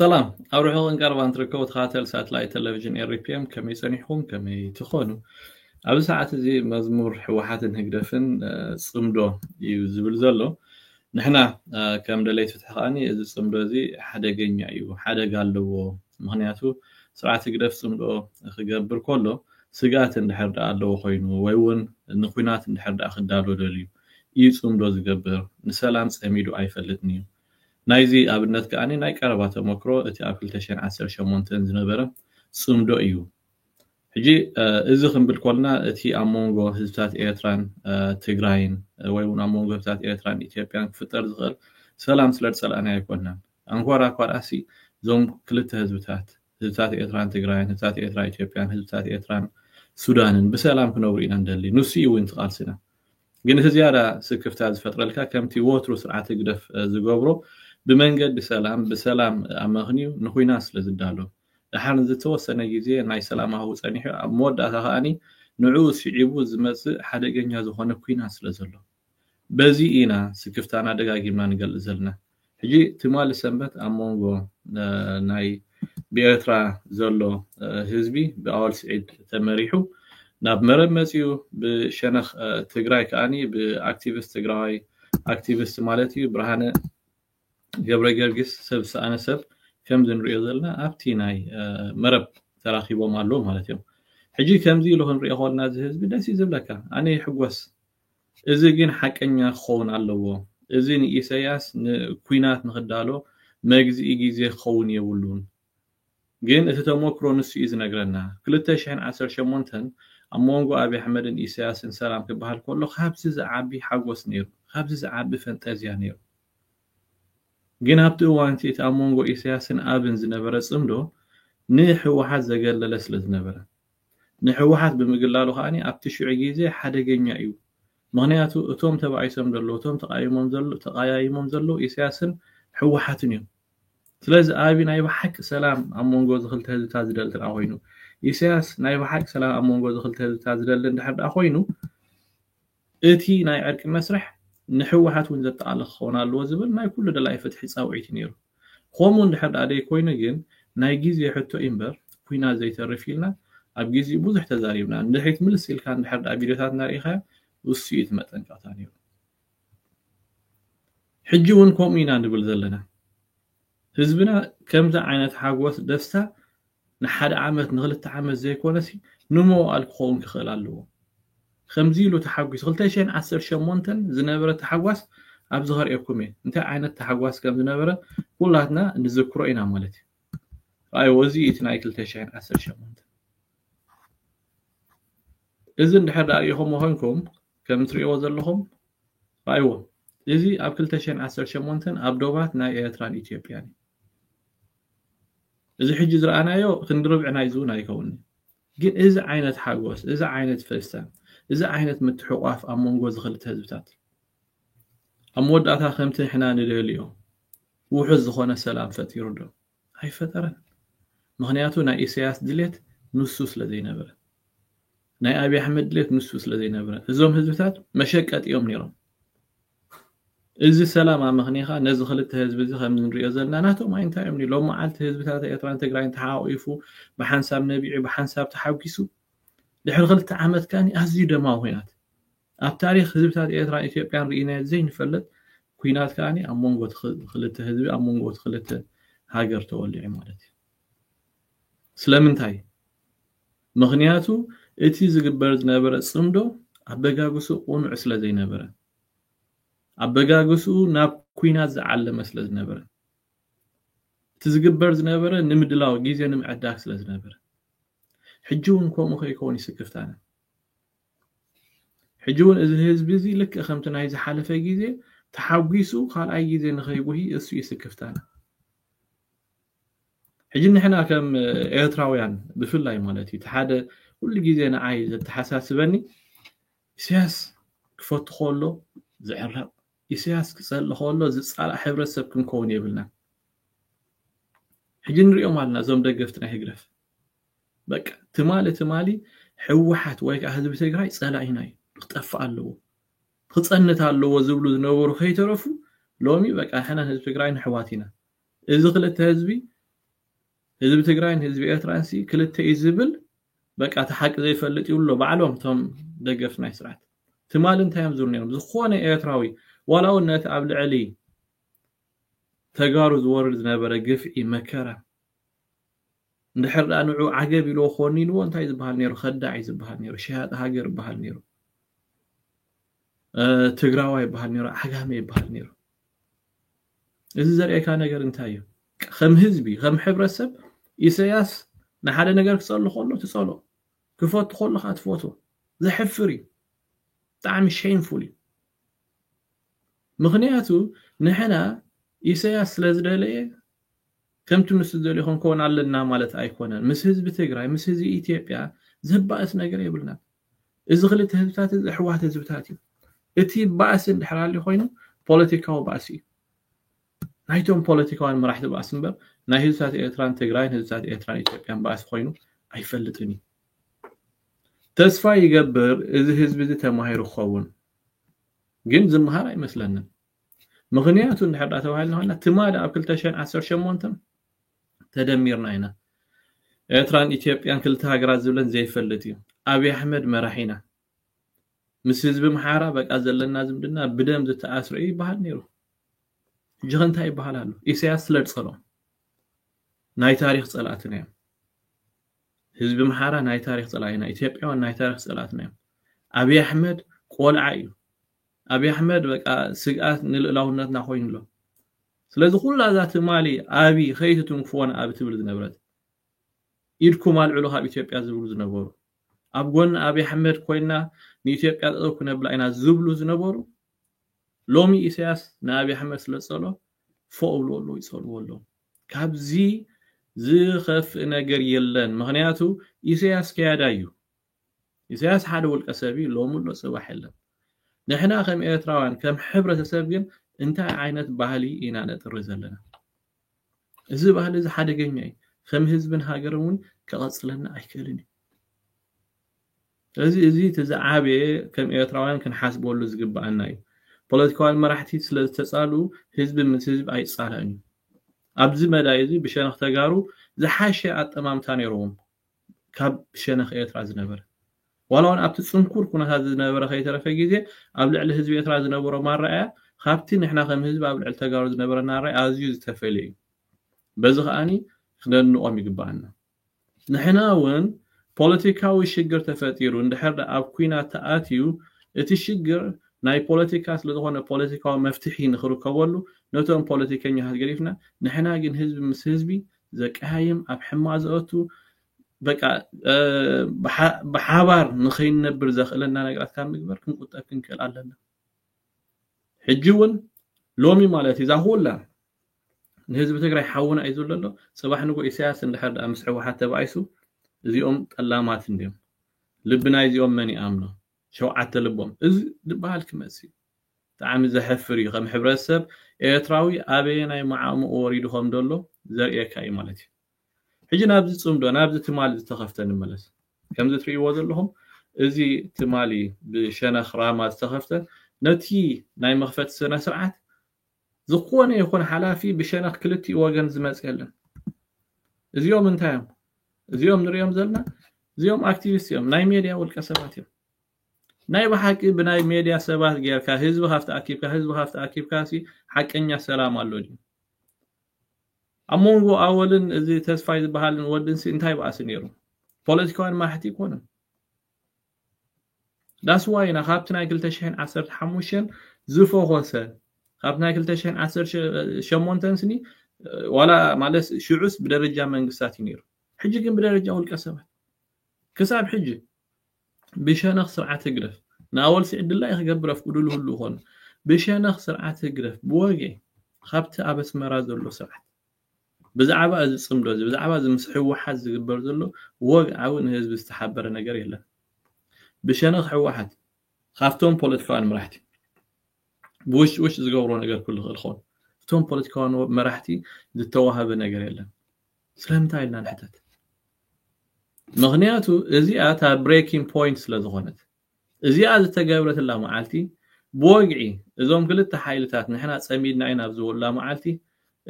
ሰላም ኣብ ርሑቕን ቀረባን ትርከቡ ተኸታተል ሳትላይት ቴሌቭዥን ኤሪፒኤም ከመይ ጸኒሕኩም ከመይ ትኾኑ ኣብዚ ሰዓት እዚ መዝሙር ህወሓትን ህግደፍን ጽምዶ እዩ ዝብል ዘሎ ንሕና ከም ደለይቲ ፍትሒ ከኣ እዚ ጽምዶ እዚ ሓደገኛ እዩ፣ ሓደጋ ኣለዎ፣ ምኽንያቱ ስርዓት ህግደፍ ጽምዶ ክገብር ከሎ ስግኣት እንድሕር ደኣ ኣለዎ ኮይኑ ወይ እውን ንኲናት እንድሕር ደኣ ክዳሎ ደልዩ እዩ ጽምዶ ዝገብር፣ ንሰላም ጸሚዱ ኣይፈልጥን እዩ። ናይዚ ኣብነት ከኣ ናይ ቀረባ ተመክሮ እቲ ኣብ ክልተ ሽሕን ዓሰርተ ሸሞንተን ዝነበረ ጽምዶ እዩ። ሕጂ እዚ ክንብል ኮልና እቲ ኣብ ሞንጎ ህዝብታት ኤርትራን ትግራይን ወይ ውን ኣብ ሞንጎ ህዝብታት ኤርትራን ኢትዮጵያን ክፍጠር ዝኽእል ሰላም ስለ ዝጸላእናዮ ኣይኮናን። ኣንኮር ኣኳርኣሲ እዞም ክልተ ህዝብታት ህዝብታት ኤርትራን ትግራይን ህዝብታት ኤርትራ ኢትዮጵያን ህዝብታት ኤርትራን ሱዳንን ብሰላም ክነብሩ ኢና ንደሊ። ንሱ እዩ ውን እቲ ቃልስና። ግን እቲ ዝያዳ ስክፍታ ዝፈጥረልካ ከምቲ ወትሩ ስርዓት ህግደፍ ዝገብሮ ብመንገዲ ሰላም ብሰላም ኣመኽንዩ ንኹናት ስለ ዝዳሎ ደሓር ንዝተወሰነ ግዜ ናይ ሰላም ሃሁ ጸኒሑ ኣብ መወዳእታ ከኣ ንዕኡ ስዒቡ ዝመጽእ ሓደገኛ ዝኾነ ኩናት ስለ ዘሎ በዚ ኢና ስክፍታና ደጋጊምና ንገልጽ ዘልና። ሕጂ ትማሊ ሰንበት ኣብ መንጎ ናይ ብኤርትራ ዘሎ ህዝቢ ብኣወል ስዒድ ተመሪሑ ናብ መረብ መጺኡ ብሸነኽ ትግራይ ከኣኒ ብኣክቲቭስት ትግራዋይ ኣክቲቭስት ማለት እዩ ብርሃነ ገብረገርግስ ሰብ ዝሰኣነ ሰብ ከምዚ ንሪኦ ዘለና ኣብቲ ናይ መረብ ተራኺቦም ኣለዉ ማለት እዮም ሕጂ ከምዚ ኢሉ ክንሪኦ ከለና እዚ ህዝቢ ደስ እዩ ዝብለካ ኣነ ይሕጎስ እዚ ግን ሓቀኛ ክኸውን ኣለዎ። እዚ ንኢሰያስ ንኩናት ንክዳሎ መግዝኢ ግዜ ክኸውን የብሉን። ግን እቲ ተሞክሮ ንሱ እዩ ዝነግረና። ክልተ ሽሕን ዓሰርተ ሸሞንተን ኣብ ሞንጎ ኣብይ ኣሕመድን ኢሰያስን ሰላም ክበሃል ከሎ ካብዚ ዝዓቢ ሓጎስ ነይሩ። ካብዚ ዝዓቢ ፈንጠዝያ ነይሩ። ግን ኣብቲ እዋንቲ እቲ ኣብ ሞንጎ ኢሰያስን ኣብን ዝነበረ ጽምዶ ንህወሓት ዘገለለ ስለዝነበረ። ንሕወሓት ብምግላሉ ከኣ ኣብቲ ሽዑ ግዜ ሓደገኛ እዩ ምኽንያቱ እቶም ተባኢሶም ዘለዉ እቶም ተቓያይሞም ዘለዉ ኢሰያስን ሕወሓትን እዮም ስለዚ ኣብይ ናይ ብሓቂ ሰላም ኣብ መንጎ እዚ ክልተ ህዝብታት ዝደሊ እንተደኣ ኮይኑ ኢሰያስ ናይ ብሓቂ ሰላም ኣብ መንጎ እዚ ክልተ ህዝብታት ዝደሊ እንድሕር ደኣ ኮይኑ እቲ ናይ ዕርቂ መስርሕ ንህወሓት እውን ዘጠቓልል ክኸውን ኣለዎ ዝብል ናይ ኩሉ ደላይ ፍትሒ ፃውዒት እዩ ነይሩ። ኾምኡ እንድሕር ድኣ ዘይኮይኑ ግን ናይ ጊዜ ሕቶ እዩ እምበር ኩናት ዘይተርፍ ኢልና ኣብ ጊዜኡ ብዙሕ ተዛሪብና። ንድሕሪት ምልስ ኢልካ እንድሕር ድኣ ቪድዮታትና ርኢኻዮ እሱ እዩ እቲ መጠንቀቕታ ነይሩ። ሕጂ እውን ከምኡ ኢና ንብል ዘለና። ህዝብና ከምዚ ዓይነት ሓጎስ ደስታ ንሓደ ዓመት ንክልተ ዓመት ዘይኮነሲ ንመዋእል ክኸውን ክኽእል ኣለዎ። ከምዚ ኢሉ ተሓጒሱ ክልተ ሽሕን ዓሰርተ ሸሞንተን ዝነበረ ታሕጓስ ኣብዚ ከርእየኩም እየ። እንታይ ዓይነት ታሕጓስ ከም ዝነበረ ኩላትና ንዝክሮ ኢና ማለት እዩ። ረኣይዎ እዚ እዩ እቲ ናይ ክልተ ሽሕን ዓሰርተ ሸሞንተን። እዚ እንድሕር ደኣ ርኢኹሞ ኮይንኩም ከም እትርእይዎ ዘለኹም ረኣይዎ። እዚ ኣብ ክልተ ሽሕን ዓሰርተ ሸሞንተን ኣብ ዶባት ናይ ኤርትራን ኢትዮጵያን እዩ። እዚ ሕጂ ዝረኣናዮ ክንዲ ርብዒ ናይዚ እውን ኣይከውንን። ግን እዚ ዓይነት ሓጎስ፣ እዚ ዓይነት ፌስታ፣ እዚ ዓይነት ምትሕቋፍ ኣብ መንጎ እዚ ክልተ ህዝብታት ኣብ መወዳእታ ከምቲ ንሕና ንደልዮ ውሑስ ዝኾነ ሰላም ፈጢሩ ዶ? ኣይፈጠረን ምኽንያቱ ናይ ኢሰያስ ድሌት ንሱ ስለ ዘይነበረ ናይ ኣብይ ኣሕመድ ድሌት ንሱ ስለ ዘይነበረ እዞም ህዝብታት መሸቀጢ እዮም ነይሮም እዚ ሰላም ኣመኽኒኻ ነዚ ክልተ ህዝቢ እዚ ከምዚ ንሪኦ ዘለና ናቶም ኣይ እንታይ እዮም ሎም መዓልቲ ህዝብታት ኤርትራን ትግራይን ተሓቂፉ ብሓንሳብ ነቢዑ ብሓንሳብ ተሓጒሱ ድሕሪ ክልተ ዓመት ከኣ ኣዝዩ ደማዊ ኩናት ኣብ ታሪኽ ህዝብታት ኤርትራን ኢትዮጵያን ርኢናዮ ዘይንፈልጥ ኲናት ከኣ ኣብ መንጎ እቲ ክልተ ህዝቢ፣ ኣብ መንጎ እቲ ክልተ ሃገር ተወሊዑ ማለት እዩ። ስለምንታይ? ምኽንያቱ እቲ ዝግበር ዝነበረ ጽምዶ ኣበጋግስኡ ቅኑዕ ስለ ዘይነበረ፣ ኣበጋግስኡ ናብ ኲናት ዝዓለመ ስለ ዝነበረ፣ እቲ ዝግበር ዝነበረ ንምድላው ግዜ ንምዕዳግ ስለ ዝነበረ፣ ሕጂ እውን ከምኡ ከይከውን እዩ ስክፍታና። ሕጂ ውን እዚ ህዝቢ እዚ ልክዕ ከምቲ ናይ ዝሓለፈ ግዜ ተሓጒሱ ካልኣይ ግዜ ንኸይጉሂ እሱ እዩ ስክፍታና። ሕጂ ንሕና ከም ኤርትራውያን ብፍላይ ማለት እዩ እቲ ሓደ ኩሉ ግዜ ንዓይ ዘተሓሳስበኒ ኢሳያስ ክፈቱ ከሎ ዝዕረቕ ኢሳያስ ክጸሊ ከሎ ዝጻላእ ሕብረተሰብ ክንከውን የብልና ሕጂ ንሪኦም ኣለና እዞም ደገፍቲ ናይ ህግደፍ በቃ ትማሊ ትማሊ ሕወሓት ወይ ከዓ ህዝቢ ትግራይ ፀላኢና እዩ ክጠፍእ ኣለዎ ክፀንት ኣለዎ ዝብሉ ዝነበሩ ከይተረፉ ሎሚ በቃ ንሕና ህዝቢ ትግራይ ንሕዋት ኢና እዚ ክልተ ህዝቢ ህዝቢ ትግራይን ህዝቢ ኤርትራን ሲ ክልተ እዩ ዝብል በቃ እቲ ሓቂ ዘይፈልጥ ይብሎ ባዕሎም እቶም ደገፍቲ ናይ ስርዓት ትማሊ እንታይ እዮም ዝብሉ ነይሮም ዝኾነ ኤርትራዊ ዋላ እውን ነቲ ኣብ ልዕሊ ተጋሩ ዝወርድ ዝነበረ ግፍዒ መከራ እንድሕር ደኣ ንዑ ዓገብ ኢልዎ ኮኒንዎ እንታይ እዩ ዝበሃል ነይሩ ከዳዕ እዩ ዝበሃል ነይሩ ሸያጢ ሃገር ይበሃል ነይሩ ትግራዋ ይበሃል ነይሩ ዓጋመ ይበሃል ነይሩ እዚ ዘርእየካ ነገር እንታይ እዩ ከም ህዝቢ ከም ሕብረተሰብ ኢሰያስ ንሓደ ነገር ክጸሉ ከሎ ትጸሎ ክፈቱ ከሎ ከዓ ትፈቱ ዘሕፍር እዩ ብጣዕሚ ሸይንፉል እዩ ምክንያቱ ንሕና ኢሰያስ ስለ ዝደለየ ከምቲ ምስ ዝደልዮ ክንከውን ኣለና ማለት ኣይኮነን። ምስ ህዝቢ ትግራይ፣ ምስ ህዝቢ ኢትዮጵያ ዘባእስ ነገር የብልናን። እዚ ክልተ ህዝብታት እዚ ኣሕዋት ህዝብታት እዩ። እቲ ባእሲ እንድሕር ኣልዩ ኮይኑ ፖለቲካዊ ባእሲ እዩ። ናይቶም ፖለቲካውያን መራሕቲ ባእሲ እምበር ናይ ህዝብታት ኤርትራን ትግራይን ህዝብታት ኤርትራን ኢትዮጵያን ባእሲ ኮይኑ ኣይፈልጥን እዩ። ተስፋ ይገብር እዚ ህዝቢ እዚ ተማሂሩ ክኸውን ግን ዝምሃር ኣይመስለንን። ምኽንያቱ እንድሕር ደኣ ተባሂልና ኮይና ትማሊ ኣብ ክልተ ሽሕን ዓሰርተ ሸሞንተን ተደሚርና ኢና ኤርትራን ኢትዮጵያን ክልተ ሃገራት ዝብለን ዘይፈልጥ እዩ ኣብይ ኣሕመድ መራሒና ምስ ህዝቢ ምሓራ በቃ ዘለና ዝምድና ብደም ዝተኣስረ እዩ ይበሃል ነይሩ ሕጂ ከ እንታይ ይበሃል ኣሎ ኢሳያስ ስለ ዝጸልኦም ናይ ታሪክ ጸላእትና እዮም ህዝቢ ምሓራ ናይ ታሪክ ጸላኢና ኢትዮጵያውያን ናይ ታሪክ ጸላእትና እዮም ኣብይ ኣሕመድ ቆልዓ እዩ ኣብይ ኣሕመድ በቃ ስግኣት ንልእላውነትና ኮይኑ ኣሎ ስለዚ ኩላ እዛ ትማሊ ኣብይ ከይትትንክፎና ኣብ ትብል ዝነብረት ኢድኩም ኣልዕሉ ካብ ኢትዮጵያ ዝብሉ ዝነበሩ ኣብ ጎኒ ኣብይ ኣሕመድ ኮይና ንኢትዮጵያ ጠጠው ክነብላ ኢና ዝብሉ ዝነበሩ ሎሚ ኢሳያስ ንኣብይ ኣሕመድ ስለ ዝጸሎ ፎእ ብልዎ ኣለዉ ይጸልዎ ኣለዉ ካብዚ ዝኸፍእ ነገር የለን ምክንያቱ ኢሳያስ ከያዳ እዩ ኢሳያስ ሓደ ውልቀ ሰብ እዩ ሎሚ ኣሎ ጽባሕ የለን ንሕና ከም ኤርትራውያን ከም ሕብረተሰብ ግን እንታይ ዓይነት ባህሊ ኢና ነጥሪ ዘለና እዚ ባህሊ እዚ ሓደገኛ እዩ ከም ህዝብን ሃገርን እውን ከቐጽለና ኣይክእልን እዩ ስለዚ እዚ እቲ ዝዓበየ ከም ኤርትራውያን ክንሓስበሉ ዝግብኣና እዩ ፖለቲካውያን መራሕቲ ስለ ዝተጻሉ ህዝቢ ምስ ህዝቢ ኣይጻላእን እዩ ኣብዚ መዳይ እዚ ብሸነኽ ተጋሩ ዝሓሸ ኣጠማምታ ነይርዎም ካብ ሸነኽ ኤርትራ ዝነበረ፣ ዋላውን ኣብቲ ጽንኩር ኩነታት ዝነበረ ከይተረፈ ግዜ ኣብ ልዕሊ ህዝቢ ኤርትራ ዝነበሮም ኣረኣእያ ካብቲ ንሕና ከም ህዝቢ ኣብ ልዕሊ ተጋሩ ዝነበረና ኣረኣእያ ኣዝዩ ዝተፈልየ እዩ። በዚ ከኣ ክነድንቖም ይግበኣና። ንሕና እውን ፖለቲካዊ ሽግር ተፈጢሩ እንድሕር ደኣ ኣብ ኩናት ተኣትዩ እቲ ሽግር ናይ ፖለቲካ ስለ ዝኾነ ፖለቲካዊ መፍትሒ ንኽርከበሉ ነቶም ፖለቲከኛታት ገዲፍና ንሕና ግን ህዝቢ ምስ ህዝቢ ዘቀያይም ኣብ ሕማቅ ዘእቱ በቃ ብሓባር ንኸይንነብር ዘኽእለና ነገራት ካብ ምግበር ክንቁጠብ ክንክእል ኣለና ሕጂ እውን ሎሚ ማለት እዩ እዛ ኩላ ንህዝቢ ትግራይ ሓውና እዩ ዝብሎ ኣሎ ፅባሕ ንጎ ኢሳያስ እንድሕር ደኣ ምስ ሕወሓት ተባኢሱ እዚኦም ጠላማት እንድዮም ልቢ ናይዚኦም መን ይኣምኖ ሸውዓተ ልቦም እዚ ድበሃል ክመጽ እዩ ብጣዕሚ ዘሕፍር እዩ ከም ሕብረት ሰብ ኤረትራዊ ኣበየናይ መዓሙቅ ወሪዱ ከም ደሎ ዘርእየካ እዩ ማለት እዩ ሕጂ ናብዚ ጽምዶ ናብዚ ትማሊ ዝተኸፍተ ንመለስ ከምዚ ትርእይዎ ዘለኹም እዚ ትማሊ ብሸነኽ ራማ ዝተኸፍተ ነቲ ናይ መኽፈቲ ስነ ስርዓት ዝኾነ ይኹን ሓላፊ ብሸነኽ ክልቲኡ ወገን ዝመጽ የለን። እዚኦም እንታይ እዮም? እዚኦም ንሪኦም ዘለና እዚኦም ኣክቲቪስት እዮም፣ ናይ ሜድያ ውልቀ ሰባት እዮም። ናይ ብሓቂ ብናይ ሜድያ ሰባት ጌርካ ህዝቢ ካብ ተኣኪብካ ህዝቢ ካብ ተኣኪብካ ሲ ሓቀኛ ሰላም ኣሎ ድዩ? ኣብ መንጎ ኣወልን እዚ ተስፋይ ዝበሃልን ወድንሲ እንታይ በኣሲ ነይሩ? ፖለቲካውያን ማሕቲ ይኮኑን ዳስ ዋይ ኢና ካብቲ ናይ ክልተ ሽሕን ዓሰርተ ሓሙሽተን ዝፈኾሰ ካብቲ ናይ ክልተ ሽሕን ዓሰርተ ሸሞንተን ስኒ ዋላ ማለት ሽዑስ ብደረጃ መንግስታት እዩ ነይሩ ሕጂ ግን ብደረጃ ውልቀ ሰባት ክሳብ ሕጂ ብሸነኽ ስርዓት ህግደፍ ንኣወል ስዒድ ድላይ ክገብር ኣፍቅዱ ዝህሉ ኮኑ ብሸነኽ ስርዓት ህግደፍ ብወገይ ካብቲ ኣብ ኣስመራ ዘሎ ስርዓት ብዛዕባ እዚ ጽምዶ እዚ ብዛዕባ እዚ ምስ ህወሓት ዝግበር ዘሎ ወግዓዊ ንህዝቢ ዝተሓበረ ነገር የለን። ብሸነኽ ህወሓት ካብቶም ፖለቲካውያን መራሕቲ ብውሽጢ ውሽጢ ዝገብሮ ነገር ክህሉ ይኽእል ይኸውን። እቶም ፖለቲካውያን መራሕቲ ዝተዋህበ ነገር የለን። ስለምንታይ ኢልና ንሕተት። ምክንያቱ እዚኣ እታ ብሬኪንግ ፖይንት ስለ ዝኾነት እዚኣ ዝተገብረትላ መዓልቲ፣ ብወግዒ እዞም ክልተ ሓይልታት ንሕና ጸሚድና ኢና ዝበሉላ መዓልቲ፣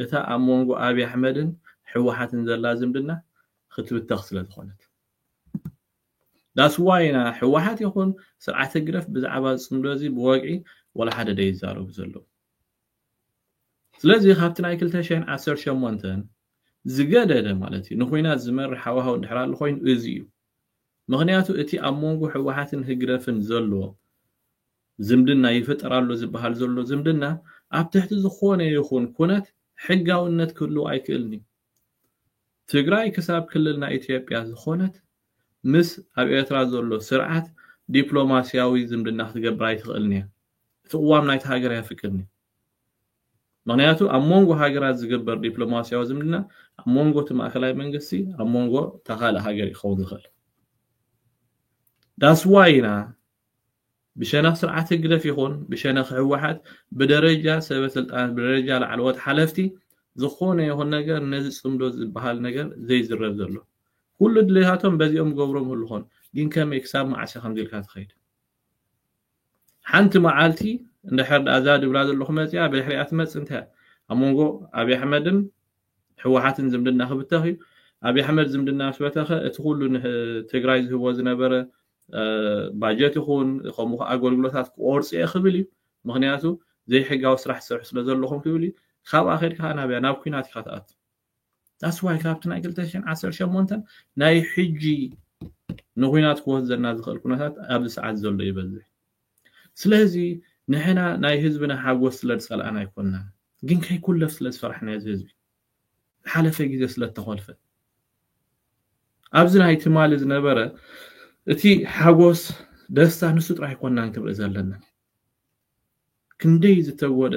እታ ኣብ መንጎ ኣብይ ኣሕመድን ህወሓትን ዘላ ዝምድና ክትብተኽ ስለዝኾነት። That's why ኢና ህወሓት ይኹን ስርዓት ህግደፍ ብዛዕባ እዚ ጽምዶ እዚ ብወግዒ ዋላ ሓደ ዘይዛረቡ ዘለዉ። ስለዚ ካብቲ ናይ ክልተ ሽሕን ዓሰርተ ሸሞንተን ዝገደደ ማለት እዩ ንኹናት ዝመርሕ ሃዋህው እንድሕር ኣሎ ኮይኑ እዚ እዩ። ምኽንያቱ እቲ ኣብ መንጎ ህወሓትን ህግደፍን ዘሎ ዝምድና ይፍጠር ኣሎ ዝበሃል ዘሎ ዝምድና ኣብ ትሕቲ ዝኾነ ይኹን ኩነት ሕጋውነት ክህልዎ ኣይክእልን እዩ። ትግራይ ክሳብ ክልል ናይ ኢትዮጵያ ዝኾነት ምስ ኣብ ኤርትራ ዘሎ ስርዓት ዲፕሎማስያዊ ዝምድና ክትገብር ኣይትኽእልን እያ። እቲ ቅዋም ናይታ ሃገር ኣየፍቅድን እዩ። ምኽንያቱ ኣብ ሞንጎ ሃገራት ዝግበር ዲፕሎማሲያዊ ዝምድና ኣብ ሞንጎ እቲ ማእከላይ መንግስቲ ኣብ ሞንጎ እታ ካልእ ሃገር እዩ ክኸውን ዝኽእል ዳስ ዋይ ኢና ብሸነኽ ስርዓት ህግደፍ ይኹን ብሸነኽ ህወሓት ብደረጃ ሰበ ስልጣናት ብደረጃ ላዕለዎት ሓለፍቲ ዝኾነ ይኹን ነገር ነዚ ፅምዶ ዝበሃል ነገር ዘይዝረብ ዘሎ ኩሉ ድሌታቶም በዚኦም ገብሮም ህልኾን ግን ከመይ ክሳብ መዓስ ከምዚ ኢልካ ትኸይድ ሓንቲ መዓልቲ እንድሕር ድኣ እዛ ድብላ ዘለኹ መጺኣ ብድሕሪኣ ትመጽእ እንተ ኣብ መንጎ ኣብይ ኣሕመድን ህወሓትን ዝምድና ክብተኽ እዩ ኣብይ ኣሕመድ ዝምድና ምስ በተኸ እቲ ኩሉ ንትግራይ ዝህቦ ዝነበረ ባጀት ይኹን ከምኡ ከዓ ኣገልግሎታት ክቆርፅ እየ ክብል እዩ ምክንያቱ ዘይሕጋዊ ስራሕ ትሰርሑ ስለ ዘለኹም ክብል እዩ ካብኣ ከድካ ናብያ ናብ ኩናት ኢካ ትኣቱ That's why ካብቲ ናይ ክልተ ሽሕን ዓሰርተ ሸሞንተን ናይ ሕጂ ንኹናት ክወስደና ዝኽእል ኩነታት ኣብዚ ሰዓት ዘሎ ይበዝሕ ስለዚ ንሕና ናይ ህዝብና ሓጎስ ስለ ዝጸልኣና ኣይኮንናን ግን ከይኩለፍ ስለ ዝፈራሕናዮ እዚ ህዝቢ ዝሓለፈ ግዜ ስለ እተኾልፈ ኣብዚ ናይ ትማሊ ዝነበረ እቲ ሓጎስ ደስታ ንሱ ጥራይ ኣይኮንናን ክርኢ ዘለና ክንደይ ዝተጎደ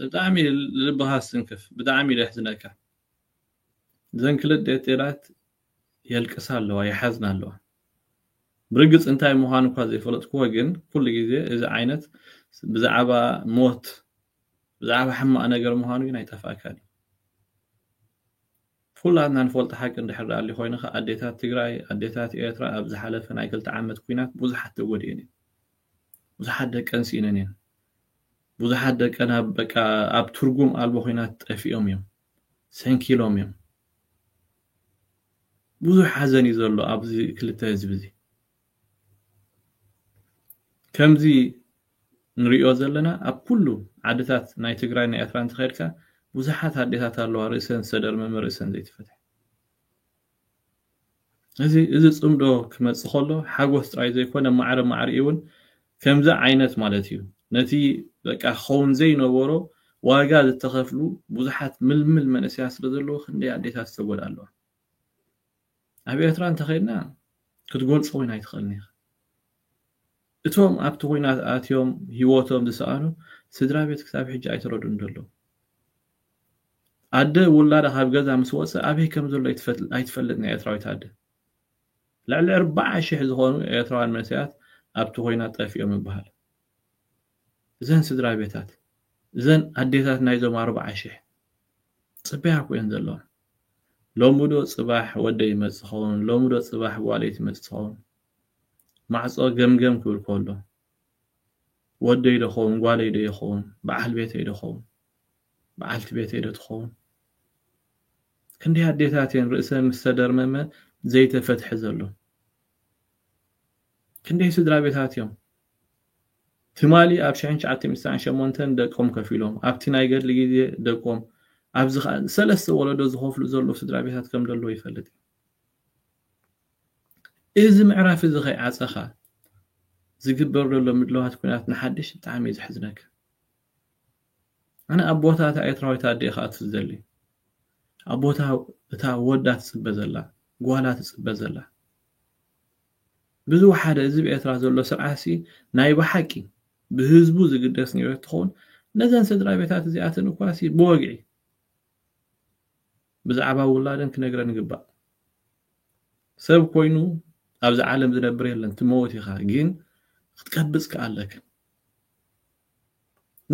ብጣዕሚ ልብኻ ዝትንክፍ ብጣዕሚ ኢለ የሕዝነካ እዘን ክልተ ጤላት የልቅሳ ኣለዋ ይሓዝና ኣለዋ ብርግጽ እንታይ ምዃኑ እኳ ዘይፈለጥክዎ ግን ኩሉ ግዜ እዚ ዓይነት ብዛዕባ ሞት ብዛዕባ ሕማቕ ነገር ምዃኑ ግን ኣይጠፍኣካን እዩ ኩላትና ንፈልጦ ሓቂ እንድሕር ዳኣ ኣሊ ኮይኑ ከ ኣዴታት ትግራይ ኣዴታት ኤርትራ ኣብ ዝሓለፈ ናይ ክልተ ዓመት ኩናት ብዙሓት ተጎዲኤን እየን ብዙሓት ደቀን ስኢነን እየን ብዙሓት ደቀን ኣብ በቃ ኣብ ትርጉም ኣልቦ ኩናት ጠፊኦም እዮም ሰንኪሎም እዮም። ብዙሕ ሓዘን እዩ ዘሎ ኣብዚ ክልተ ህዝቢ እዚ ከምዚ ንሪኦ ዘለና ኣብ ኩሉ ዓድታት ናይ ትግራይ ናይ ኤርትራ እንተኸድካ ብዙሓት ኣዴታት ኣለዋ ርእሰን ዝተደርመመ ርእሰን ዘይተፈትሐ እዚ እዚ ጽምዶ ክመጽእ ከሎ ሓጎስ ጥራይ ዘይኮነ ማዕረ ማዕሪኡውን ከምዚ ዓይነት ማለት እዩ ነቲ በቃ ክኸውን ዘይነበሮ ዋጋ ዝተኸፍሉ ብዙሓት ምልምል መንእሰያት ስለ ዘለዉ ክንደይ ኣዴታት ዝተጎድኣ ኣለዋ ኣብ ኤርትራ እንተኸይድና ክትገልጾ እውን ኣይትኽእልን ኢኻ እቶም ኣብቲ ኹናት ኣትዮም ሂወቶም ዝሰኣኑ ስድራቤት ክሳብ ሕጂ ኣይተረድኡን ዘለዉ። ኣደ ውላዳ ካብ ገዛ ምስ ወጸ ኣበይ ከም ዘሎ ኣይትፈልጥን'ያ ኤርትራዊት ኣደ። ልዕሊ ዕርባዓ ሽሕ ዝኾኑ ኤርትራውያን መንእሰያት ኣብቲ ኹናት ጠፊኦም ይበሃል። እዘን ስድራቤታት እዘን ኣዴታት ናይዞም ኣርባዓ ሽሕ ጽበያ'ኮ እየን ዘለዋ። ሎሚ'ዶ ጽባሕ ወደይ ይመጽእ ክኸውን፣ ሎሚ'ዶ ጽባሕ ጓለይ ትመጽእ ትኸውን። ማዕጾ ገምገም ክብል ከሎ፣ ወደይ ዶ ኸውን ጓለይ ዶ ይኸውን በዓል ቤተይ ዶ ኸውን በዓልቲ ቤተይ ዶ ትኸውን ክንደይ ኣዴታት እየን ርእሰን ምስ ተደርመመ ዘይተፈትሐ ዘሎ ክንደይ ስድራ ቤታት እዮም ትማሊ ኣብ 1998 ደቆም ከፊሎም ኣብቲ ናይ ገድሊ ግዜ ደቆም ኣብዚ ከዓ ሰለስተ ወለዶ ዝኸፍሉ ዘሎ ስድራ ቤታት ከም ዘለዎ ይፈልጥ እዩ እዚ ምዕራፍ እዚ ከይዓጸኻ ዝግበር ዘሎ ምድላዋት ኩናት ንሓድሽ ብጣዕሚ እዩ ዘሕዝነካ። ኣነ ኣብ ቦታ እታ ኤርትራዊት ኣደ እየ ክኣቱ ዝደሊ ኣብ ቦታ እታ ወዳ ትጽበ ዘላ ጓላ ትጽበ ዘላ ብዝወሓደ እዚ ብ ኤርትራ ዘሎ ስርዓሲ ናይ ብሓቂ ብህዝቡ ዝግደስ ነይሩ ትኸውን ነዘን ስድራ ቤታት እዚኣተን እኳሲ ብወግዒ ብዛዕባ ውላደን ክነግረን ይግባእ ሰብ ኮይኑ ኣብዚ ዓለም ዝነብር የለን ትመውት ኢኻ ግን ክትቀብጽ ከ ኣለክን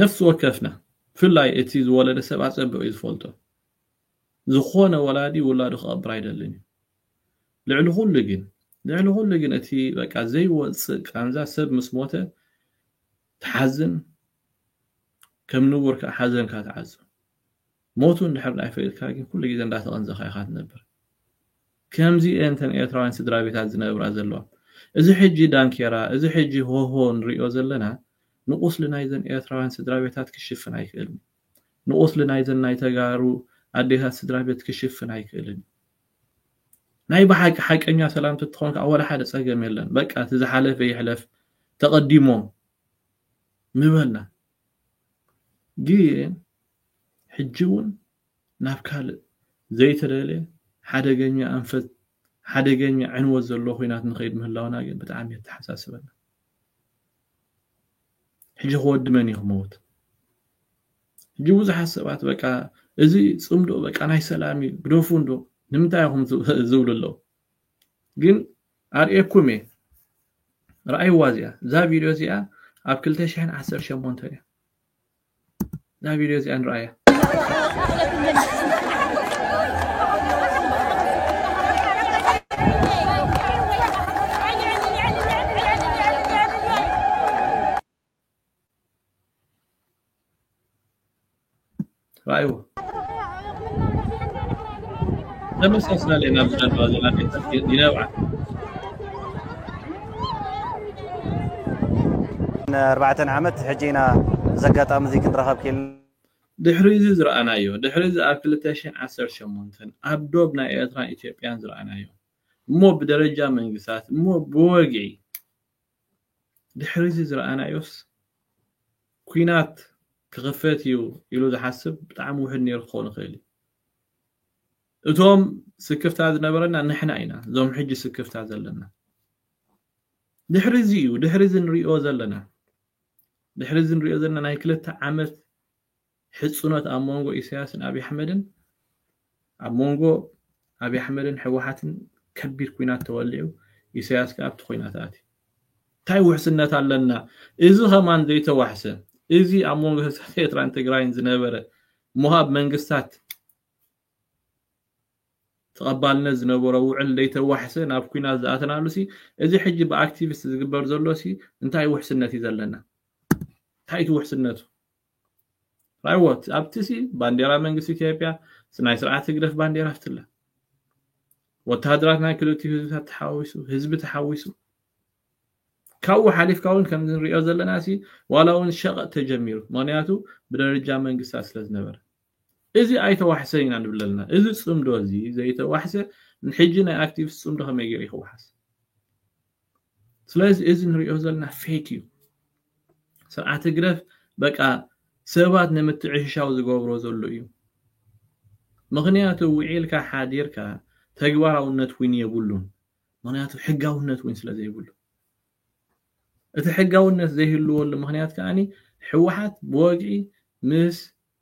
ነፍሲ ወከፍና ብፍላይ እቲ ዝወለደ ሰብ ኣጸብቕ እዩ ዝፈልጦ ዝኾነ ወላዲ ውላዱ ክቐብር ኣይደልን እዩ ልዕሊ ኩሉ ግን ልዕሊ ኩሉ ግን እቲ በቃ ዘይወፅእ ቃንዛ ሰብ ምስ ሞተ ትሓዝን ከም ንቡር ከዓ ሓዘንካ ትዓዝም ሞቱ እንድሕር ኣይፈሊጥካ ግን ኩሉ ግዜ እንዳተቐንዘኻ ኢኻ ትነብር ከምዚ እየን እተን ኤርትራውያን ስድራቤታት ዝነብራ ዘለዋ እዚ ሕጂ ዳንኬራ እዚ ሕጂ ሆሆ ንርእዮ ዘለና ንቑስሊ ናይዘን ኤርትራውያን ስድራቤታት ክሽፍን ኣይክእልን ንቑስሊ ናይዘን ናይ ተጋሩ ኣዴታት ስድራቤት ክሽፍን ኣይክእልን ናይ ብሓቂ ሓቀኛ ሰላም ተትኾን ከዓ ወላ ሓደ ጸገም የለን በቃ እቲ ዝሓለፈ ይሕለፍ ተቐዲሞም ምበልና ግን ሕጂ'ውን ናብ ካልእ ዘይተደልየ ሓደገኛ ኣንፈት ሓደገኛ ዕንወት ዘለዎ ኲናት ንኸይድ ምህላውና ግን ብጣዕሚ የተሓሳስበና። ሕጂ ክወዲ መን እዩ ክመውት? ሕጂ ብዙሓት ሰባት በቃ እዚ ፅምዶ በቃ ናይ ሰላም እዩ ግደፉ እንዶ ንምንታይ ኢኹም ዝብሉ ኣለዉ ግን ኣርእየኩም እየ ረኣይዋ እዚኣ እዛ ቪድዮ እዚኣ ኣብ ክልተ ሽሕን ዓሰርተ ሸሞንተን እያ እዛ ቪድዮ እዚኣ ንረኣያ ራእይዎ ተመሳስላ ለና ብዛንባ ዘላ ቤታት ይነብዓ ንኣርባዕተ ዓመት ሕጂ ኢና እዚ ኣጋጣሚ እዚ ክንረኸብ ክኢልና ድሕሪ እዚ ዝረኣናዮ ድሕሪ እዚ ኣብ 2018 ኣብ ዶብ ናይ ኤርትራን ኢትዮጵያን ዝረኣናዮ እሞ ብደረጃ መንግስታት እሞ ብወግዒ ድሕሪ እዚ ዝረኣናዮስ ኲናት ክኽፈት እዩ ኢሉ ዝሓስብ ብጣዕሚ ውሕድ ነይሩ ክኸውን ይኽእል እዩ። እቶም ስክፍታ ዝነበረና ንሕና ኢና፣ እዞም ሕጂ ስክፍታ ዘለና ድሕሪ እዚ እዩ፣ ድሕሪ እዚ ንሪኦ ዘለና ድሕሪ እዚ ንሪኦ ዘለና ናይ ክልተ ዓመት ሕጽኖት ኣብ ሞንጎ ኢሰያስን ኣቢ ኣሕመድን ኣብ ሞንጎ ኣቢ ኣሕመድን ሕወሓትን ከቢድ ኩናት ተወሊዑ ኢሰያስ ከኣ ኣብቲ ኩናት ኣትዩ እንታይ ውሕስነት ኣለና እዚ ከማን ዘይተዋሕሰ እዚ ኣብ ሞንጎ ህዝቢ ኤርትራን ትግራይን ዝነበረ ሞሃብ መንግስታት ተቐባልነት ዝነበሮ ውዕል ዘይተዋሕሰ ናብ ኩናት ዝኣተናሉ ሲ እዚ ሕጂ ብኣክቲቪስት ዝግበር ዘሎ ሲ እንታይ ውሕስነት እዩ ዘለና እንታይ እቲ ውሕስነቱ ራይዎት ኣብቲ ሲ ባንዴራ መንግስቲ ኢትዮጵያ ናይ ስርዓት ህግደፍ ባንዴራ ፍትለ ወተሃደራት ናይ ክልቲኡ ህዝብታት ተሓዋዊሱ ህዝቢ ተሓዊሱ ካብኡ ሓሊፍካ እውን ከምዚ ንሪኦ ዘለና ሲ ዋላ እውን ሸቐጥ ተጀሚሩ ምክንያቱ ብደረጃ መንግስታት ስለ ዝነበረ እዚ ኣይተዋሕሰን ኢና ንብል ዘለና። እዚ ጽምዶ እዚ ዘይተዋሕሰ ንሕጂ ናይ ኣክቲቭስ ጽምዶ ከመይ ገይሩ እዩ ክወሓስ? ስለዚ እዚ ንሪኦ ዘለና ፌክ እዩ። ስርዓት ህግደፍ በቃ ሰባት ንምትዕሽሻው ዝገብሮ ዘሎ እዩ። ምክንያቱ ውዒልካ ሓዲርካ ተግባራውነት እውን የብሉን። ምክንያቱ ሕጋውነት እውን ስለ ዘይብሉ እቲ ሕጋውነት ዘይህልወሉ ምክንያት ከዓኒ ሕወሓት ብወግዒ ምስ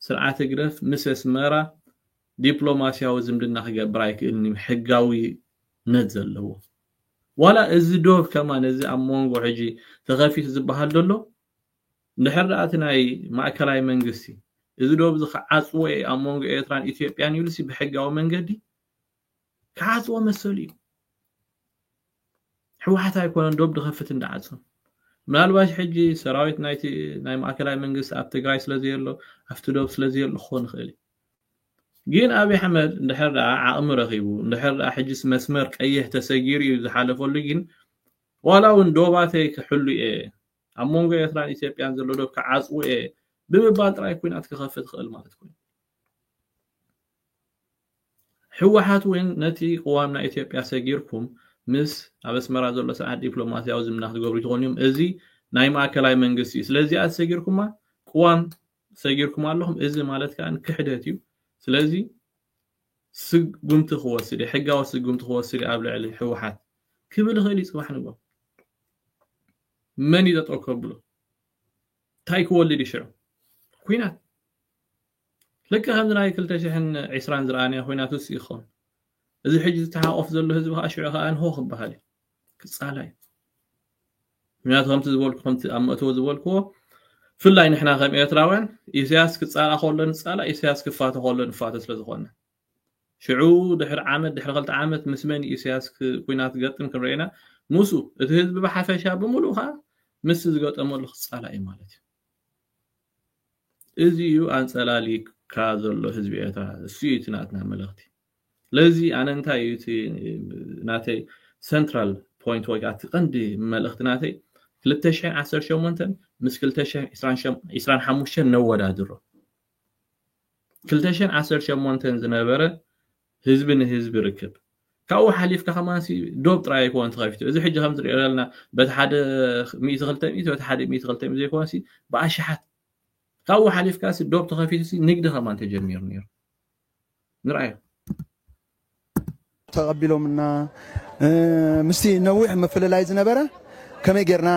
ስርዓት ህግደፍ ምስ ኣስመራ ዲፕሎማስያዊ ዝምድና ክገብር ኣይክእልን እዩ ሕጋዊነት ዘለዎ ዋላ እዚ ዶብ ከማን እዚ ኣብ መንጎ ሕጂ ተኸፊቱ ዝበሃል ዘሎ እንድሕር ደኣ እቲ ናይ ማእከላይ መንግስቲ እዚ ዶብ እዚ ክዓጽዎ እየ ኣብ መንጎ ኤርትራን ኢትዮጵያን ኢሉሲ ብሕጋዊ መንገዲ ክዓጽዎ መሰሉ እዩ ሕወሓት ኣይኮነን ዶብ ድኸፍትን ድዓጽን ምናልባሽ ሕጂ ሰራዊት ናይቲ ናይ ማእከላይ መንግስቲ ኣብ ትግራይ ስለ ዘየሎ ኣብቲ ዶብ ስለ ዘየሎ ክኾን ይኽእል እዩ ግን ኣብይ ኣሕመድ እንድሕር ደኣ ዓቕሚ ረኺቡ እንድሕር ደኣ ሕጅስ መስመር ቀይሕ ተሰጊሩ እዩ ዝሓለፈሉ ግን ዋላ እውን ዶባተይ ክሕሉ እየ ኣብ መንጎ ኤርትራን ኢትዮጵያን ዘሎ ዶብ ክዓፅዎ እየ ብምባል ጥራይ ኩናት ክኸፍት ይኽእል ማለት ኮይኑ ሕወሓት ውን ነቲ ቕዋም ናይ ኢትዮጵያ ሰጊርኩም ምስ ኣብ ኣስመራ ዘሎ ስርዓት ዲፕሎማስያዊ ዝምድና ክትገብሩ ኣይትኾኑን ኢኹም እዚ ናይ ማእከላይ መንግስቲ እዩ ስለዚ እዚኣ ሰጊርኩማ ቕዋም ሰጊርኩም ኣለኹም እዚ ማለት ከኣ ክሕደት እዩ ስለዚ ስጉምቲ ክወስድ እዩ ሕጋዊ ስጉምቲ ክወስድ እዩ ኣብ ልዕሊ ሕወሓት ክብል ይኽእል እዩ ጽባሕ ንግሆ መን እዩ ጠጠው ከብሎ እንታይ ክወልድ እዩ ሽዑ ኩናት ልክዕ ከምዚ ናይ ክልተ ሽሕን ዕስራን ዝረኣናዮ ኲናት እሱ እዩ ክኸውን። እዚ ሕጂ ዝተሓቆፍ ዘሎ ህዝቢ ከኣ ሽዑ ከኣ እንሆ ክበሃል እዩ። ክጻላ እዩ። ምክንያቱ ከምቲ ዝበልኩ ከምቲ ኣብ መእተዊ ዝበልክዎ ብፍላይ ንሕና ከም ኤርትራውያን ኢሳያስ ክጻላ ከሎ ንጻላ ኢሳያስ ክፋተ ከሎ ንፋተ ስለ ዝኾነ ሽዑ ድሕሪ ዓመት ድሕሪ ክልተ ዓመት ምስ መን ኢሳያስ ኩናት ገጥም ክንረኤና ምስ እቲ ህዝቢ ብሓፈሻ ብምሉእ ከዓ ምስ ዝገጠመሉ ክፃላ እዩ ማለት እዩ እዚ እዩ ኣንጸላሊካ ዘሎ ህዝቢ ኤርትራ እሱ እዩ እቲ ናትና መልእክቲ ለዚ ኣነ እንታይ እዩ እቲ ናተይ ሰንትራል ፖይንት ወይ እቲ ቀንዲ መልእክቲ ናተይ ክልተ ሽሕን ዓሰርተ ሸሞንተን ምስ ክልተ ሽሕን ዒስራን ሓሙሽተን ነወዳድሮ ክልተ ሽሕን ዓሰርተ ሸሞንተን ዝነበረ ህዝቢ ንህዝቢ ርክብ ካብኡ ሓሊፍካ ከማንሲ ዶብ ጥራይ ኣይኮን ተኸፊቱ እዚ ሕጂ ከም ዝሪኦ ዘለና በቲ ሓደ ሚእቲ ክልተ ሚእቲ በቲ ሓደ ሚእቲ ክልተ ሚእቲ ዘይኮነሲ ብኣሽሓት ካብኡ ሓሊፍካ ዶብ ተኸፊቱ ንግዲ ከማን ተጀሚሩ ነይሩ ንርኣዮ ተቐቢሎምና ምስቲ ነዊሕ ምፍልላይ ዝነበረ ከመይ ጌርና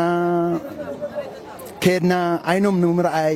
ከየድና ዓይኖም ንምርኣይ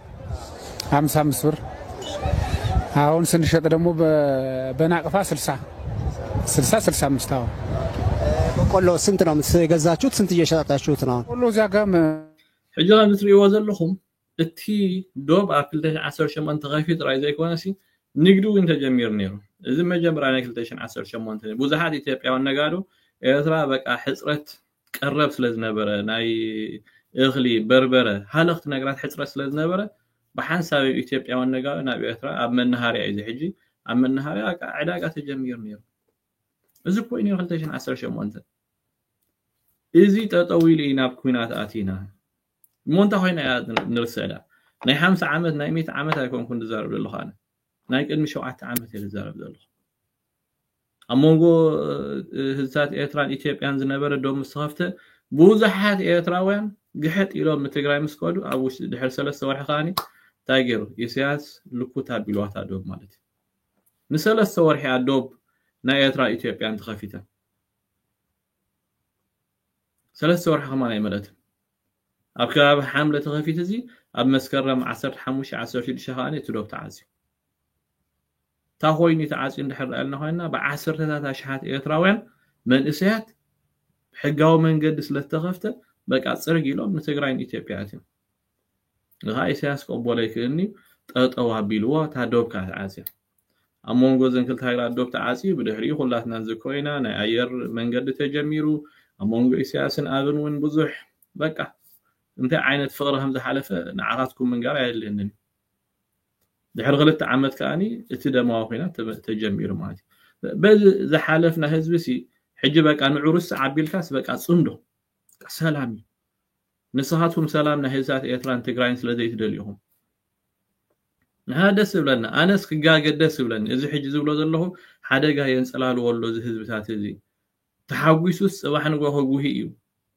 ሃምሳ ኣምስት ብር ኣሁን ስንሸጥ ደግሞ በናቅፋ ስልሳ ስልሳ ስልሳ አምስት አሁን በቆሎ ስንት ነው የገዛችሁት? ስንት እየሸጣችሁት ነው? በቆሎ እዚያ ጋር ሕጂ ከምዚ ትርእይዎ ዘለኹም እቲ ዶብ ኣብ 218 ከፊ ጥራይ ዘይኮነ ሲ ንግዲ እውን ተጀሚሩ ነይሩ እዚ መጀመርያ ናይ 218 ብዙሓት ኢትዮጵያውያን ነጋዶ ኤርትራ በቃ ሕፅረት ቀረብ ስለ ዝነበረ ናይ እኽሊ በርበረ ሃለኽቲ ነገራት ሕፅረት ስለ ዝነበረ ብሓንሳብ ኢትዮጵያውን ነጋዶ ናብ ኤርትራ ኣብ መናሃርያ እዩ ዝሕጂ ኣብ መናሃርያ ዕዳጋ ተጀሚሩ ነይሩ እዚ ኮይኑ 218 እዚ ጠጠው ኢሉ ኢና ኣብ ኩናት ኣቲና እሞ እንታይ ኮይና እያ ንርስዕዳ ናይ 50 ዓመት ናይ 100 ዓመት ኣይኮንኩን ዝዛረብ ዘለኹ ኣነ ናይ ቅድሚ 7 ዓመት እየ ዝዛረብ ዘለኹ ኣብ መንጎ ህዝብታት ኤርትራን ኢትዮጵያን ዝነበረ ዶብ ምስ ተኸፍተ ብዙሓት ኤርትራውያን ግሕጥ ኢሎም ንትግራይ ምስ ከዱ ኣብ ውሽጢ ድሕሪ ሰለስተ ወርሒ ከኣ እንታይ ገይሩ ኢሳያስ ልኩት ኣቢልዋታ ዶብ ማለት እዩ ንሰለስተ ወርሒ እያ ዶብ ናይ ኤርትራ ኢትዮጵያን ተኸፊታ ሰለስተ ወርሒ ከማን ኣይመለትን ኣብ ከባቢ ሓምለ ተኸፊቱ እዚ ኣብ መስከረም ዓሰርተ ሓሙሽተ ዓሰርተ ሽዱሽተ ከኣ እቲ ዶብ ተዓጽዩ። እታ ኮይኒ ተዓጽዩ እንድሕር ርኣልና ኮይና ብዓሰርተታት ኣሽሓት ኤርትራውያን መንእሰያት ብሕጋዊ መንገዲ ስለ እተኸፍተ በቃ ጽርግ ኢሎም ንትግራይ ንኢትዮጵያ ኣትዮም። እዚ ከኣ ኢሳያስ ክቕበሎ ኣይክእልን'ዩ ጠጠው ኣቢልዎ እታ ዶብ ከኣ ተዓጽያ። ኣብ ሞንጎ እዘን ክልተ ሃገራት ዶብ ተዓጽዩ ብድሕሪኡ ኩላትና ንዝክሮ ኢና ናይ ኣየር መንገዲ ተጀሚሩ ኣብ ሞንጎ ኢሰያስን ኣብን እውን ብዙሕ በቃ እንታይ ዓይነት ፍቕሪ ከም ዝሓለፈ ንዓኻትኩም ምንጋር ኣየድልየንን ድሕሪ ክልተ ዓመት ከኣኒ እቲ ደማዊ ኩናት ተጀሚሩ ማለት እዩ በዚ ዝሓለፍና ህዝቢ ሲ ሕጂ በቃ ንዑሩስ ዓቢልካስ በቃ ጽምዶ ሰላም እዩ ንስኻትኩም ሰላም ናይ ህዝብታት ኤርትራን ትግራይን ስለ ዘይትደልዩ ኢኹም። ንሕና ደስ ዝብለና ኣነስ ክጋገ ደስ ዝብለኒ እዚ ሕጂ ዝብሎ ዘለኹ ሓደጋ የንጸላልዎ ኣሎ እዚ ህዝብታት እዚ ተሓጒሱስ ጽባሕ ንግሆ ከጉሂ እዩ።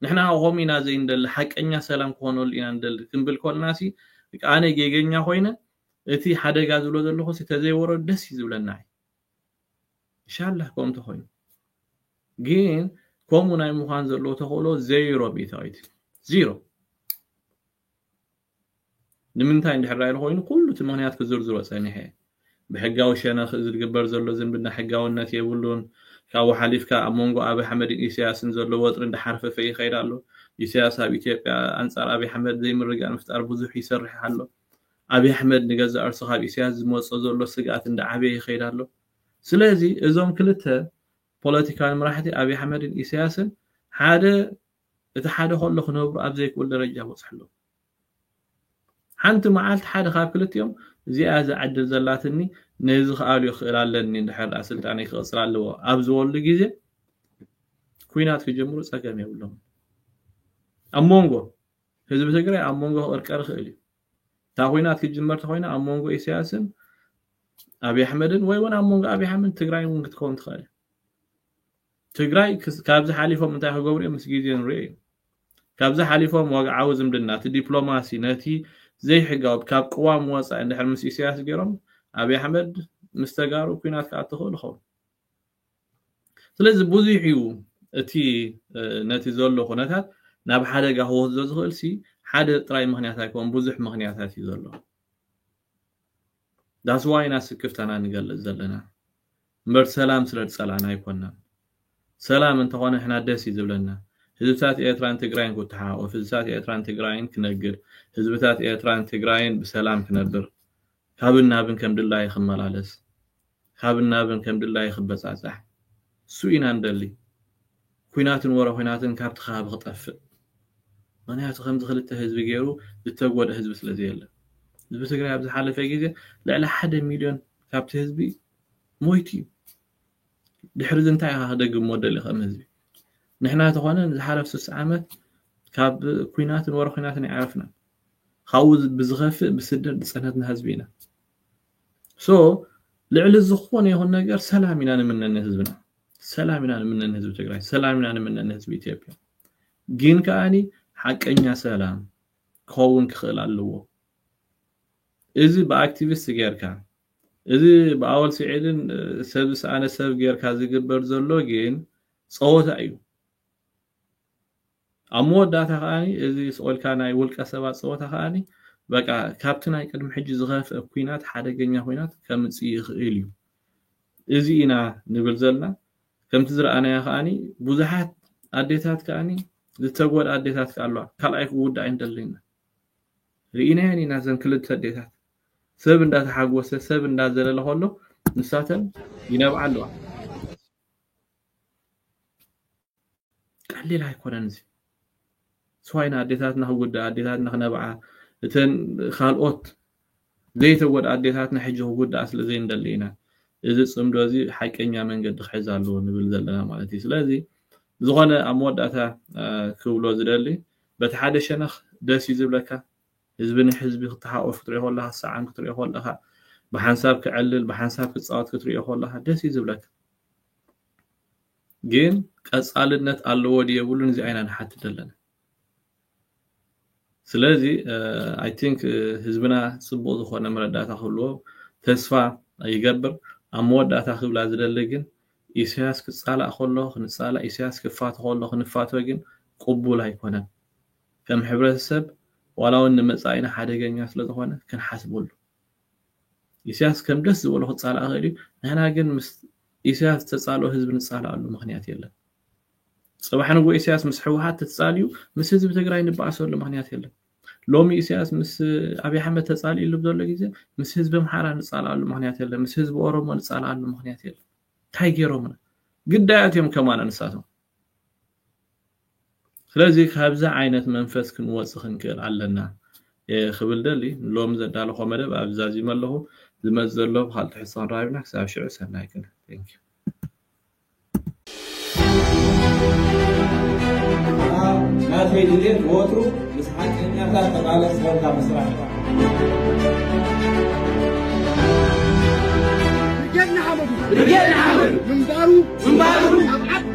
ንሕና ከ ከምኡ ኢና ዘይንደሊ ሓቀኛ ሰላም ክኾነሉ ኢና ንደሊ ክንብል ኮንናሲ ኣነ ጌገኛ ኮይነ እቲ ሓደጋ ዝብሎ ዘለኹሲ ተዘይወረዱ ደስ እዩ ዝብለና። ሻላ ከምኡ እንተኾይኑ ግን ከምኡ ናይ ምዃን ዘለዎ ተኽእሎ ዘይሮ ሚእታዊት እዩ ዚሮ ንምንታይ እንድሕር ዳይሉ ኮይኑ ኩሉ እቲ ምክንያት ክዝርዝሮ ጸኒሐ ብሕጋዊ ሸነኽ እዚ ዝግበር ዘሎ ዝምድና ሕጋውነት የብሉን ካብኡ ሓሊፍካ ኣብ መንጎ ኣብ ኣሕመድን ኢሳያስን ዘሎ ወጥሪ እንዳሓርፈፈ ይኸይድ ኣሎ ኢሳያስ ኣብ ኢትዮጵያ ኣንጻር ኣብ ኣሕመድ ዘይምርግጋእ ንምፍጣር ብዙሕ ይሰርሕ ኣሎ ኣብይ ኣሕመድ ንገዛእ ርእሱ ካብ ኢሰያስ ዝመጾ ዘሎ ስግኣት እንዳዓበየ ይኸይድ ኣሎ ስለዚ እዞም ክልተ ፖለቲካውያን መራሕቲ ኣብይ ኣሕመድን ኢሰያስን ሓደ እቲ ሓደ ከሎ ክነብሩ ኣብ ዘይክእሉ ደረጃ በጽሑ ኣለዉ ሓንቲ መዓልቲ ሓደ ካብ ክልቲኦም እዚኣ እዛ ዕድል ዘላትኒ ነዚ ክኣልዮ ክእል ኣለኒ እንድሕር ደኣ ስልጣነይ ክቕጽል ኣለዎ ኣብ ዝበሉ ግዜ ኩናት ክጀምሩ ጸገም የብሎም ኣብ መንጎ ህዝቢ ትግራይ ኣብ መንጎ ክቕርቀር ይኽእል እዩ። እታ ኩናት ክትጅመር ተኾይና ኣብ መንጎ ኢሳያስን ኣብይ ኣሕመድን ወይ እውን ኣብ መንጎ ኣብይ ኣሕመድ ትግራይ እውን ክትከውን ትኽእል እያ። ትግራይ ካብዚ ሓሊፎም እንታይ ክገብሩ እዮም ምስ ግዜ ንሪኦ እዩ። ካብዚ ሓሊፎም ወግዓዊ ዝምድና እቲ ዲፕሎማሲ ነቲ ዘይሕጋዊ ካብ ቅዋም ወፃኢ እንድሕር ምስ ኢሳያስ ገይሮም ኣብይ ኣሕመድ ምስ ተጋሩ ኩናት ክኣቱ ይኽእል ይኸውን። ስለዚ ብዙሕ እዩ እቲ ነቲ ዘሎ ኩነታት ናብ ሓደጋ ክወስዶ ዝኽእል ሲ ሓደ ጥራይ ምክንያት ኣይኮን ብዙሕ ምክንያታት እዩ ዘሎ ዳስዋይ ኢና ስክፍታና ንገልጽ ዘለና እምበር ሰላም ስለ ዝጸላእና ኣይኮናን ሰላም እንተኾነ ሕና ደስ እዩ ዝብለና ህዝብታት ኤርትራን ትግራይን ክተሓቆፍ ህዝብታት ኤርትራን ትግራይን ክነግድ ህዝብታት ኤርትራን ትግራይን ብሰላም ክነብር ካብን ናብን ከም ድላዩ ክመላለስ ካብን ናብን ከም ድላዩ ክበጻጻሕ እሱ ኢና ንደሊ ኩናትን ወረ ኩናትን ካብቲ ከባቢ ክጠፍእ ምክንያቱ ከምዚ ክልተ ህዝቢ ጌሩ ዝተጎደ ህዝቢ ስለ ዘየለ ህዝቢ ትግራይ ኣብ ዝሓለፈ ግዜ ልዕሊ ሓደ ሚልዮን ካብቲ ህዝቢ ሞይቱ እዩ ድሕሪ እዚ እንታይ ኢኻ ክደግሞ ደሊ ከም ህዝቢ ንሕና ተኾነ ንዝሓለፍ ስስ ዓመት ካብ ኩናትን ወረ ኩናትን ይዓረፍና ካብኡ ብዝኸፍእ ብስደት ዝፀነትና ህዝቢ ኢና ሶ ልዕሊ ዝኾነ ይኹን ነገር ሰላም ኢና ንምነ ንህዝብና ሰላም ኢና ንምነ ንህዝቢ ትግራይ ሰላም ኢና ንምነ ንህዝቢ ኢትዮጵያ ግን ከዓኒ ሓቀኛ ሰላም ክኸውን ክኽእል ኣለዎ እዚ ብኣክቲቪስት ጌርካ እዚ ብኣወል ስዒድን ሰብ ዝሰኣነ ሰብ ጌርካ ዝግበር ዘሎ ግን ፀወታ እዩ ኣብ መወዳእታ ከኣ እዚ ስቆልካ ናይ ውልቀ ሰባት ጸወታ ከኣ በቃ ካብቲ ናይ ቅድሚ ሕጂ ዝኸፍእ ኩናት ሓደገኛ ኩናት ከምጽእ ይኽእል እዩ እዚ ኢና ንብል ዘልና ከምቲ ዝረኣናዮ ከኣ ብዙሓት ኣዴታት ከኣ ዝተጎድኣ ኣዴታት ከኣ ኣለዋ ካልኣይ ክውዳእ ኣይንደልይና ርኢናየን ኢና ዘን ክልተ ኣዴታት ሰብ እንዳተሓጎሰ ሰብ እንዳዘለለ ከሎ ንሳተን ይነብዓ ኣለዋ ቀሊል ኣይኮነን እዚ ስዋይና ኣዴታትና ክጉዳእ ኣዴታትና ክነብዓ እተን ካልኦት ዘይተጎዳ ኣዴታትና ሕጂ ክጉዳእ ስለ ዘይንደሊ ኢና እዚ ፅምዶ እዚ ሓቀኛ መንገዲ ክሕዝ ኣለዎ ንብል ዘለና ማለት እዩ ስለዚ ዝኾነ ኣብ መወዳእታ ክብሎ ዝደሊ በቲ ሓደ ሸነኽ ደስ እዩ ዝብለካ ህዝቢ ንህዝቢ ክተሓቆፍ ክትሪኦ ከለካ ክሰዓም ክትሪኦ ከለካ ብሓንሳብ ክዕልል ብሓንሳብ ክፃወት ክትሪኦ ከለካ ደስ እዩ ዝብለካ ግን ቀጻልነት ኣለዎ ድዩ የብሉን እዚኣ ኢና ንሓትት ዘለና ስለዚ ኣይ ቲንክ ህዝብና ጽቡቕ ዝኾነ መረዳእታ ክህልዎ ተስፋ ይገብር ኣብ መወዳእታ ክብላ ዝደሊ ግን ኢሳያስ ክጻላእ ከሎ ክንጻላእ ኢሳያስ ክፋቶ ከሎ ክንፋቶ ግን ቅቡል ኣይኮነን ከም ሕብረተሰብ ዋላ እውን ንመጻኢና ሓደገኛ ስለ ዝኾነ ክንሓስበሉ ኢሰያስ ከም ደስ ዝበሎ ክጻላእ ይኽእል እዩ ንሕና ግን ምስ ኢሰያስ ዝተጻልኦ ህዝቢ ንጻልኣሉ ምኽንያት የለን ጽባሕ ንግሆ ኢሰያስ ምስ ሕወሓት ተጻልዩ ምስ ህዝቢ ትግራይ ንባኣሰሉ ምኽንያት የለን ሎሚ ኢሰያስ ምስ ኣብይ ኣሕመድ ተጻልኢሉ ዘሎ ግዜ ምስ ህዝቢ ኣምሓራ ንጻልኣሉ ምኽንያት የለን ምስ ህዝቢ ኦሮሞ ንጻልኣሉ ምኽንያት የለን እንታይ ገይሮምና ግዳያት እዮም ከማና ንሳቶም ስለዚ ካብዚ ዓይነት መንፈስ ክንወጽእ ክንክእል ኣለና ክብል ደሊ ሎሚ ዘዳለኾ መደብ ኣብዚ ዛዚመ ኣለኹ ዝመጽእ ዘሎ ብካልእ ትሕዝቶ ክንራኸብና ክሳብ ሽዑ ሰናይ ቅነ Thank you ናተይ ድሌት ወትሩ ምስ ሓቀኛታት ተቓለስ ገብታ ምስራሕ ብርጌድ ንሓመዱ ምንባሩ ምንባሩ